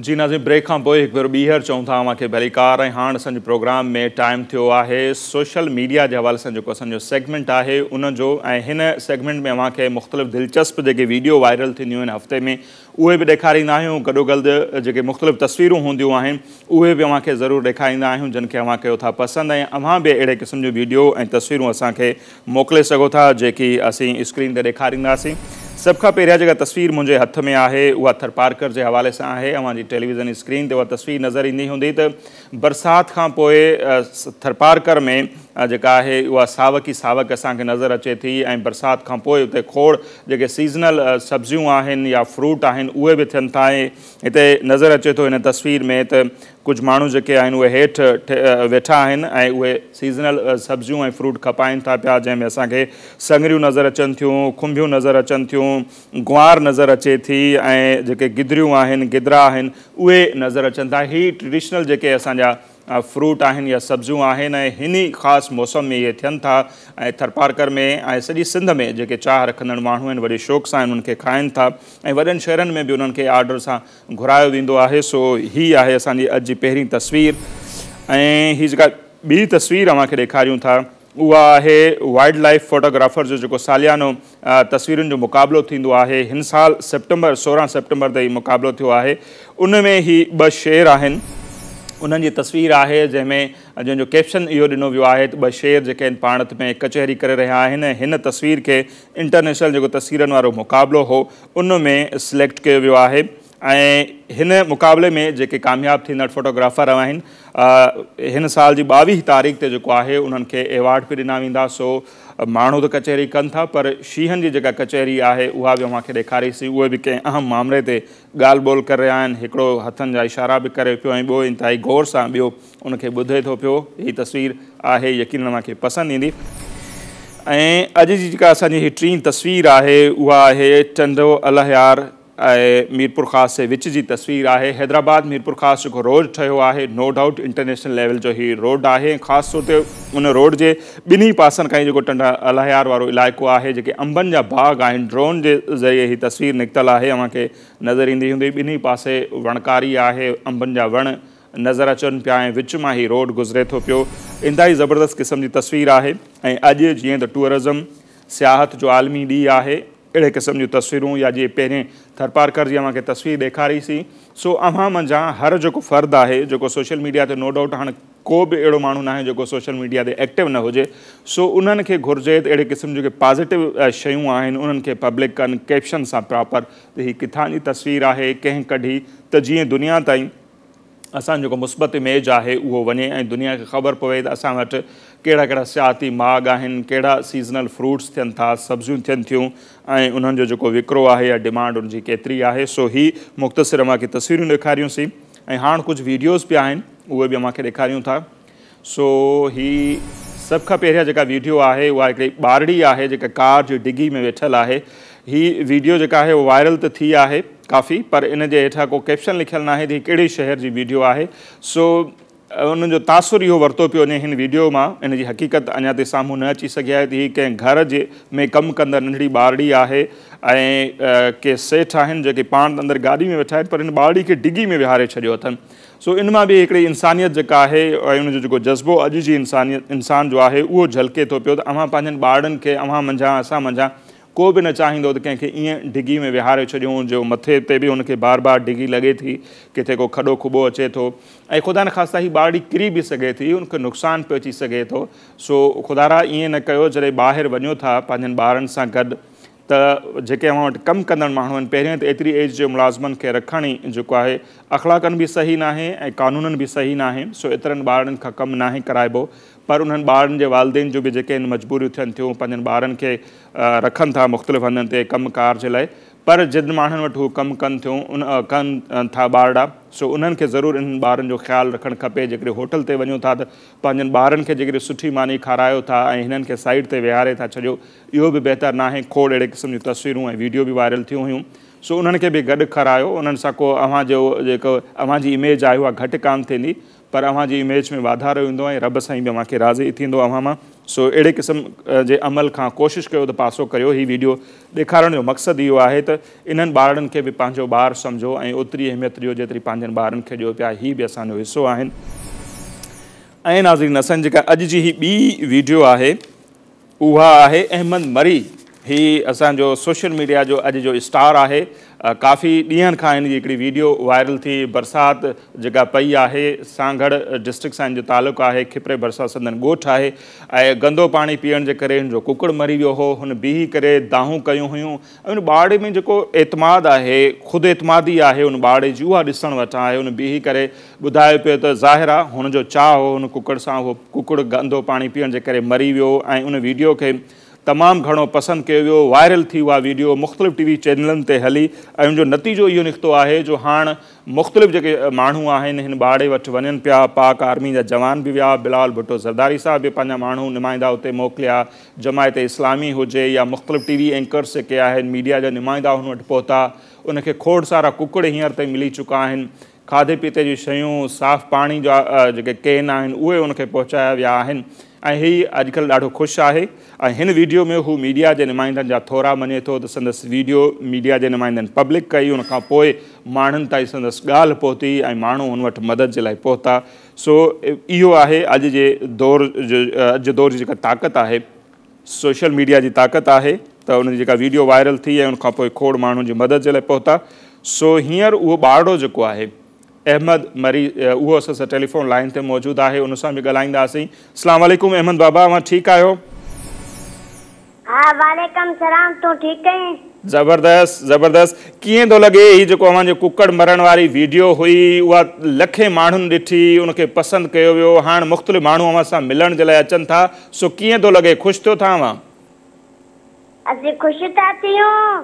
جي ناظرين بريڪ کان پوء هڪ ڀيرو ٻيهر چئون ٿا اوهان کي ڀلي ڪار ۽ هاڻ اسان جي پروگرام ۾ ٽائيم ٿيو آهي سوشل ميڊيا جي حوالي سان جيڪو اسان جو سيگمينٽ آهي ان جو ۽ هن سيگمينٽ ۾ اوهان کي مختلف دلچسپ جيڪي ويڊيو وائرل ٿينديون آهن هفتي ۾ اهي به ڏيکاريندا آهيون، گڏوگلد جيڪي مختلف تصويرون هونديون آهن، اهي به اوهان کي ضرور ڏيکاريندا آهيون، جن کي اوهان ڪيو ٿا پسند ۽ اوهان به اهڙي قسم جون ويڊيو ۽ تصويرون اسان کي موڪلي سگهو ٿا، جيڪي اسين اسڪرين تي ڏيکارينداسين. سڀ کان پهريان جيڪا تصوير منهنجي هٿ ۾ آهي، اها ٿرپارڪر جي حوالي سان آهي. اوهان جي ٽيليويزن اسڪرين تي اها تصوير نظر ايندي هوندي ته، برسات کان پوء ٿرپارڪر ۾ جيڪا آهي اها ساوڪ ئي ساوڪ اسان کي نظر اچي ٿي ۽ برسات کان پوء اتي کوڙ جيڪي سيزنل سبزيون آهن يا فروٽ آهن اهي به ٿين ٿا ۽ هتي نظر اچي ٿو هن تصوير ۾ ته ڪجهه ماڻهو جيڪي آهن اهي هيٺ ويٺا آهن ۽ اهي سيزنل سبزيون ۽ فروٽ کپائين ٿا پيا جنهن ۾ اسان کي سڱريون نظر اچن ٿيون کنڀيون نظر اچن ٿيون گوار نظر اچي ٿي ۽ جيڪي گدريون آهن گدرا آهن اهي نظر اچن ٿا هي ٽريڊيشنل جيڪي اسان جا فروٽ آهن يا سبزيون آهن ۽ هن ئي خاص موسم ۾ اهي ٿين ٿا ۽ ٿرپارڪر ۾ ۽ سڄي سنڌ ۾ جيڪي چاهه رکندڙ ماڻهو آهن وڏي شوق سان انهن کي کائن ٿا ۽ وڏن شهرن ۾ به انهن کي آرڊر سان گهرايو ويندو آهي سو هي آهي اسان جي اڄ جي پهرين تصوير ۽ هي جيڪا ٻي تصوير اوهان کي ڏيکاريون ٿا اها آهي وائلڊ لائيف فوٽوگرافرز جو جيڪو ساليانو تصويرن جو مقابلو ٿيندو آهي هن سال سيپٽمبر سورهن سيپٽمبر تي هي مقابلو ٿيو آهي ان ۾ هي ٻه شير آهن انهن جي تصوير آهي جنهن ۾ جنهن جو ڪيپشن اهو ڏنو ويو آهي ته ٻه شير جيڪي آهن پاڻت ۾ ڪچهري ڪري رهيا آهن هن تصوير کي انٽرنيشنل جيڪو تصويرن وارو مقابلو هو ان ۾ سليڪٽ ڪيو ويو آهي ۽ هن مقابلي ۾ جيڪي ڪامياب ٿيندڙ فوٽوگرافر رهياآهن هن سال جي ٻاويهه تاريخ تي جيڪو آهي انهن کي ايوارڊ به ڏنا ويندا سو ماڻهو ته ڪچهري ڪن ٿا پر شينهن جي جيڪا ڪچهري آهي اها به اوهان کي ڏيکاريسين اهي به ڪنهن اهم مامري تي ڳالهه ٻولهه ڪري رهيا آهن هڪڙو هٿن جا اشارا به ڪري پيو ۽ ٻيو انتهائي غور سان ٻيو ان کي ٻڌي ٿو پيو هي تصوير آهي يقينن اوهان کي پسند ايندي ۽ اڄ جي جيڪا اسان جي هي ٽين تصوير آهي اها آهي ٽنڊو الهيار اهي ميرپورخاص جي وچ جي تصوير آهي. حيدرآباد ميرپورخاص جيڪو روڊ ٺهيو آهي نو ڊائوٽ انٽرنيشنل ليول جو هي روڊ آهي ۽ خاص طور تي ان روڊ جي ٻنهي پاسن کان هي جيڪو ٽنڊا الهيار وارو علائقو آهي جيڪي انبن جا باغ آهن ڊرون جي ذريعي هي تصوير نڪتل آهي اوهان کي نظر ايندي هوندي ٻنهي پاسي وڻڪاري آهي انبن جا وڻ نظر اچن پيا ۽ وچ مان هي روڊ گذري ٿو پيو انتهائي زبردست قسم جي تصوير آهي ۽ اڄ جيئن ته ٽوئرزم سياحت جو عالمي ڏينهن آهي اهڙي قسم جون تصويرون يا جي پهرين ٿرپارڪر جي اوهان کي تصوير ڏيکاري سي سو اوهان منجهان هر جيڪو فرد آهي جيڪو سوشل ميڊيا تي نو ڊائوٽ هاڻ ڪو به اهڙو ماڻهو ناهي جيڪو سوشل ميڊيا تي ايڪٽو نه هجي سو انهن کي گهرجي ته اهڙي قسم جون جيڪي پازيٽو شيون آهن انهن کي پبلڪ ڪن ڪيپشن سان پراپر ته هي ڪٿان جي تصوير آهي ڪنهن ڪڍي ته جيئن دنيا تائين اسان جو جيڪو مثبت اميج آهي اهو وڃي ۽ دنيا کي خبر پوي ته اسان وٽ ڪهڙا ڪهڙا سياحتي ماڳ آهن، ڪهڙا سيزنل فروٽس ٿين ٿا، سبزيون ٿين ٿيون ۽ انهن جو جيڪو وڪرو آهي يا ڊمانڊ ان جي ڪيتري آهي. سو هي مختصر اوهان کي تصويرون ڏيکاريون سين ۽ هاڻ ڪجهه ويڊيوز به آهن اهي به اوهان کي ڏيکاريون ٿا. سو هي سڀ کان پهريان جيڪا ويڊيو آهي اها هڪڙي ٻارڙي آهي جيڪا ڪار جي ڊگهي ۾ ويٺل آهي. هي ويڊيو جيڪا آهي اها وائرل ته ٿي آهي ڪافي پر ان جي هيٺان ڪو ڪيپشن لکيل ناهي ته هي ڪهڙي شهر جي ويڊيو آهي سو ان جو تاثر اهو ورتو پيو وڃي هن ويڊيو مان ان جي حقيقت اڃا تائين سامهون نه اچي سگهي آهي ته هي ڪنهن گهر جي ۾ ڪم ڪندڙ ننڍڙي ٻارڙي آهي ۽ ڪي سيٺ آهن جيڪي پاڻ ته اندر گاڏي ۾ ويٺا آهن پر هن ٻارڙي کي ڊگهي ۾ ويهاري ڇڏيو اٿن سو ان مان به هڪڙي انسانيت جيڪا آهي ۽ ان جو جيڪو جذبو اڄ جي انسانيت انسان جو آهي اهو جهلڪي ٿو پيو ته اوهان پنهنجن ٻارڙن کي اوهان منجهان اسان منجهان ڪو به نه چاهيندو ته ڪنهن کي ائين ڊگهي ۾ ويهاري ڇڏيون جو مٿي تي به ان کي بار بار ڊگهي لڳي ٿي ڪٿي ڪو کڏو کٻو اچي ٿو ۽ خدا نخواسته هي ٻارڙي ڪري به سگهي ٿي ان کي نقصان به اچي سگهي ٿو سو خدارا ائين نه ڪيو جڏهن ٻاهر وڃو ٿا پنهنجن ٻارن سان گڏ ته جيڪي اوهان وٽ ڪم ڪندڙ ماڻهو آهن، پهرين ته ايتري ايج جي ملازمن کي رکڻ ئي جيڪو آهي اخلاقن به صحيح ناهي ۽ قانونن به صحيح ناهي، سو ايترن ٻارڙن کان ڪم ناهي ڪرائبو، پر انهن ٻارڙن جي والدين جون به جيڪي هن مجبوريون ٿين ٿيون، پنهنجن ٻارن کي رکن ٿا مختلف هنڌن تي ڪم ڪار جي لاء، پر جن ماڻهن وٽ هو ڪم ڪن ٿيون ان ڪن ٿا ٻارڙا، سو انهن کي ضرور انهن ٻارڙن جو خيال رکڻ کپي، جيڪڏهن هوٽل تي وڃو ٿا ته پنهنجن ٻارڙن کي جيڪڏهن سٺي ماني کارايو ٿا ۽ هنن کي سائيڊ تي ويهاري ٿا ڇڏيو، اهو به بهتر ناهي، کوڙ اهڙي قسم جون تصويرون ۽ ويڊيو به وائرل ٿيون هيون، سو انهن کي به گڏ کارايو، انهن سان ڪو اوهان جو جيڪو اوهان جي اميج آهي اها گهٽ ڪانه ٿيندي، پر اوهان جي اميج ۾ واڌارو ايندو ۽ رب سائين به اوهان کي راضي ٿيندو اوهان مان، سو اهڙي قسم جي عمل کان ڪوشش ڪيو ته پاسو ڪريو، هي ويڊيو ڏيکارڻ جو مقصد اهو آهي ته انهن ٻارڙن کي به پنهنجو ٻار سمجهو ۽ اوتري اهميت ڏيو جيتري پنهنجن ٻارن کي ڏيو پيا، هي به اسان جو حصو آهن. ۽ ناظرين اسان جي جيڪا اڄ جي هي ٻي ويڊيو آهي. اها آهي احمد مري. هي اسان جو سوشل ميڊيا جو اڄ جو اسٽار آهي. ڪافي ڏينهن کان هن جي هڪڙي ويڊيو وائرل ٿي. برسات جيڪا پئي آهي سانگهڙ ڊسٽرڪٽ سان هن جو تعلق آهي. کپري ڀرسان سندن ڳوٺ آهي ۽ گندو پاڻي پيئڻ جي ڪري هن جو ڪڪڙ مري ويو هو. هن بيهي ڪري دانهون ڪيون هيون. ان ٻارڙي ۾ جيڪو اعتماد آهي، خود اعتمادي آهي ان ٻارڙي جي اها ڏسڻ وٽان آهي. هن بيهي ڪري ٻڌايو پيو ته ظاهر آهي هن جو چاهه هو هن ڪڪڙ سان اهو ڪڪڙ گندو پاڻي پيئڻ جي ڪري مري ويو ۽ ان ويڊيو کي تمام گهڻو پسند ڪيو ويو وائرل ٿي اها ويڊيو مختلف ٽي وي چينلن تي هلي ۽ ان جو نتيجو اهو نڪتو آهي جو هاڻ مختلف جيڪي ماڻهو آهن هن ٻارڙي وٽ وڃن پيا پاڪ آرمي جا جوان به ويا بلال ڀٽو زرداري صاحب به پنهنجا ماڻهو نمائندا اتي موڪليا جماعت اسلامي هجي يا مختلف ٽي وي اينڪرز جيڪي آهن ميڊيا جا نمائندا هن وٽ پهتا ان کي کوڙ سارا ڪڪڙ هينئر تائين ملي چڪا آهن کاڌي پيتي جون شيون صاف پاڻي جا جيڪي ڪين آهن اهي ان کي پهچايا ويا آهن ۽ هي اڄڪلهه ڏاڍو خوش آهي ۽ هن ويڊيو ۾ هو ميڊيا جي نمائندن جا ٿورا مڃي ٿو ته سندس ويڊيو ميڊيا جي نمائندن پبلڪ ڪئي ان کان پوء ماڻهن تائين سندس ڳالهه پهتي ۽ ماڻهو هن وٽ مدد جي لاء پهتا سو اهو آهي اڄ جي دور جو اڄ جي دور جي جيڪا طاقت آهي سوشل ميڊيا جي طاقت آهي ته ان جي جيڪا ويڊيو وائرل ٿي ۽ ان کان پوء کوڙ ماڻهن جي مدد جي لاء پهتا سو هينئر اهو ٻارڙو جيڪو آهي احمد مري اهو اسان سان ٽيليفون لائين تي موجود آهي ان سان به ڳالهائينداسين السلام عليڪم احمد بابا اوهان ٺيڪ آهيو؟ ها وعليڪم سلام تون ٺيڪ ڪئين. زبردست زبردست ڪيئن ٿو لڳي هي جيڪو اوهان جي ڪڪڙ مرڻ واري ويڊيو هئي اها لکين ماڻهن ڏٺي ان کي پسند ڪيو ويو هاڻ مختلف ماڻهو اوهان سان ملڻ جي لاء اچن ٿا سو ڪيئن ٿو لڳي خوش ٿيو ٿا اوهان. اسين خوش ٿا ٿيون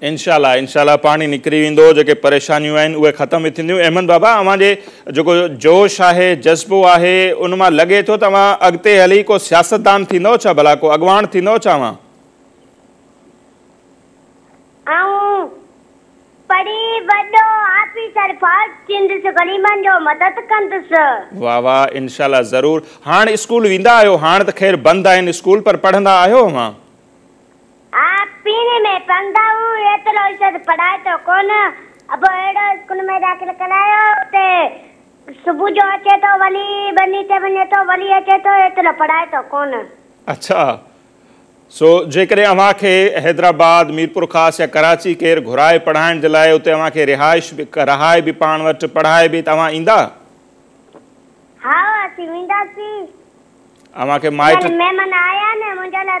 انشاء الله انشاء الله پاڻهي نڪري ويندو جيڪي پريشانيون آهن اهي ختم به ٿينديون احمد بابا اوهان جي جيڪو جوش آهي جذبو آهي ان مان لڳي ٿو ته اوهان اڳتي هلي ڪو سياستدان ٿيندؤ ڇا ڀلا ڪو اڳواڻ ٿيندؤ ڇا اوهان. آئون پڙهي وڏو آفيسر فوج ٿيندس غريبن جو مدد ڪندس. واھ واھ انشاء الله ضرور هاڻ اسڪول ويندا آهيو هاڻ ته خير بند آهن اسڪول پر پڙهندا آهيو اوهان. آء پيري ۾ پڙهندا هون ايترو ارشد پڙهائتو ڪونه ابو اهڙو اسڪول ۾ داخل ڪرايو اتي صبح جو اچي ٿو ولي ٻني تي وڃي ٿو ولي اچي ٿو ايترو پڙهائتو ڪونه. اڇا سو جيڪڏهن اوهان کي حيدرآباد ميرپور خاص يا ڪراچي ڪير گهرائي پڙهائڻ جي لاء اتي اوهان کي رهائش به رهائي به پاڻ وٽ پڙهائي به ته اوهان ايندا؟ هائو اسين وينداسين. اوهان کي مائٽ. يعني مهمان آيا نه منهنجا لاء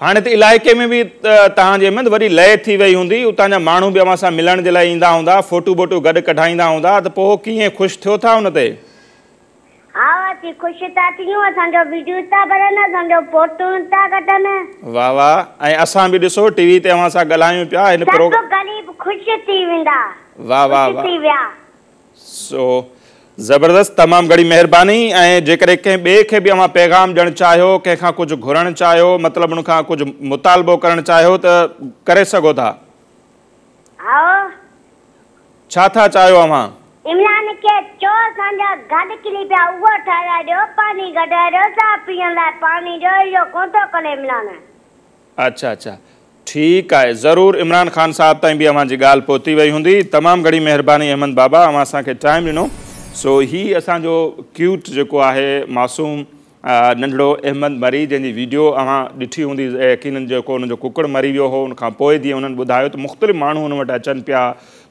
هاڻي ته علائقي ۾ به توهان جي احمد وڏي لئي ٿي وئي هوندي، اتان جا ماڻهو به اوهان سان ملڻ جي لاء ايندا هوندا، فوٽو بوٽو گڏ ڪڍائيندا هوندا ته پوء ڪيئن خوش ٿيو ٿا ان تي؟ ها اسين خوش ٿا ٿيون، اسان جو ويڊيوز ٿا ڀرن، اسان جو فوٽون ٿا ڪڍن. واھ واھ ۽ اسان به ڏسو ٽي وي تي اوهان سان ڳالهايون پيا هن پروگ. سڀ غريب خوش ٿي ويندا. واھ واھ واھ. خوش ٿي ويا. سو زبردست تمام گھڻي مهرباني ۽ جيڪڏهن ڪنهن ٻئي کي به اوهان پيغام ڏيڻ چاهيو ڪنهن کان ڪجهه گھرڻ چاهيو مطلب ان کان ڪجهه مطالبو ڪرڻ چاهيو ته ڪري سگهو ٿا. هائو. ڇا ٿا چاهيو اوهان؟ عمران کي چئو اسان جا گاڏ ڪري پيا اهو ٺاهرائي ڏيو پاڻي ڪڍرائي ڏيو چانهه پيئڻ لاء پاڻي ڏيو اهو ڪونه ٿو ڪري عمران. اڇا اڇا ٺيڪ آهي ضرور عمران خان صاحب تائين به اوهان جي ڳالهه پهتي وئي هوندي تمام گهڻي مهرباني احمد بابا اوهان اسان کي ٽائيم ڏنو سو هي اسان جو ڪيوٽ جيڪو آهي معصوم ننڍڙو احمد مري جنهن جي ويڊيو اوهان ڏٺي هوندي يقينن جيڪو ان جو ڪڪڙ مري ويو هو ان کان پوء جيئن انهن ٻڌايو ته مختلف ماڻهو ان وٽ اچن پيا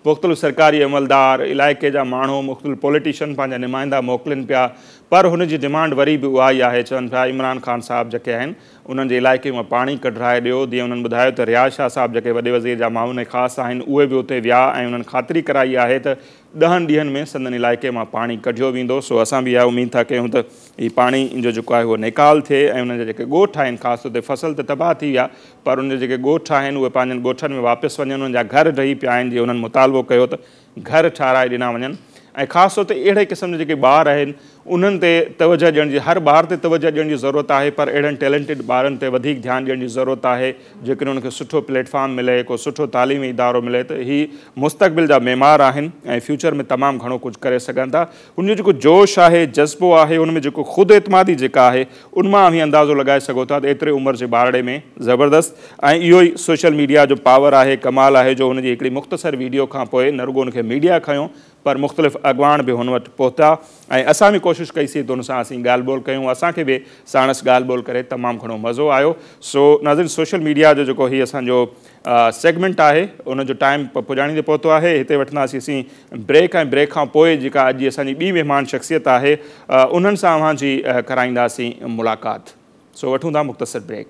مختلف سرڪاري عملدار علائقي جا ماڻهو مختلف پوليٽيشن پنهنجا نمائندا موڪلين پيا پر هن جي ڊمانڊ وري به اها ئي آهي چون پيا عمران خان صاحب جيڪي آهن انهن جي علائقي مان پاڻي ڪڍرائي ڏيو. ديء انهن ٻڌايو ته رياض شاهه صاحب جيڪي وڏي وزير جا معاون خاص آهن اهي به اتي ويا ۽ انهن خاطري ڪرائي آهي ته ڏهن ڏينهن ۾ سندن علائقي مان پاڻي ڪڍيو ويندو سو اسان به اها اميد ٿا ڪيون ته هي پاڻي جو جيڪو آهي اهو نيڪال ٿئي ۽ انهن جا جيڪي ڳوٺ آهن خاص طور تي فصل ته تباهه ٿي ويا پر انهن جا جيڪي ڳوٺ آهن اهي پنهنجن ڳوٺن ۾ واپس وڃن انهن جا گهر ڊهي پيا آهن جي انهن مطالبو ڪيو ته گهر ٺاهرائي ڏنا وڃن ۽ خاص طور تي اهڙي قسم جا جيڪي ٻار آهن انهن تي توجهه ڏيڻ جي هر ٻار تي توجهه ڏيڻ جي ضرورت آهي پر اهڙن ٽيلنٽيڊ ٻارن تي وڌيڪ ڌيان ڏيڻ جي ضرورت آهي جيڪڏهن انهن کي سٺو پليٽ فارم ملي ڪو سٺو تعليمي ادارو ملي ته هي مستقبل جا معمار آهن ۽ فيوچر ۾ تمام گهڻو ڪجهه ڪري سگهن ٿا ان جو جيڪو جوش آهي، جذبو آهي، ان ۾ جيڪو خود اعتمادي جيڪا آهي، ان مان اوهين اندازو لڳائي سگهو ٿا ته ايتري عمر جي ٻارڙي ۾ زبردست ۽ اهو ئي سوشل ميڊيا جو پاور آهي، ڪمال آهي جو هن جي هڪڙي مختصر ويڊيو کان پوء نه رڳو ان کي ميڊيا کنيو پر مختلف اڳواڻ به هن وٽ پهتا ۽ اسان به ڪوشش ڪئي سي ته هن سان اسين ڳالهه ٻولهه ڪيون، اسان کي به ساڻس ڳالهه ٻولهه ڪري تمام گهڻو مزو آيو. سو ناظرين سوشل ميڊيا جو جيڪو هي اسان جو سيگمينٽ آهي ان جو ٽائيم پڄاڻيندي پهتو آهي هتي وٺنداسين اسين بريڪ ۽ بريڪ کان پوء جيڪا اڄ جي اسان جي ٻي مهمان شخصيت آهي انهن سان اوهان جي ڪرائينداسين ملاقات سو وٺون ٿا مختصر بريڪ.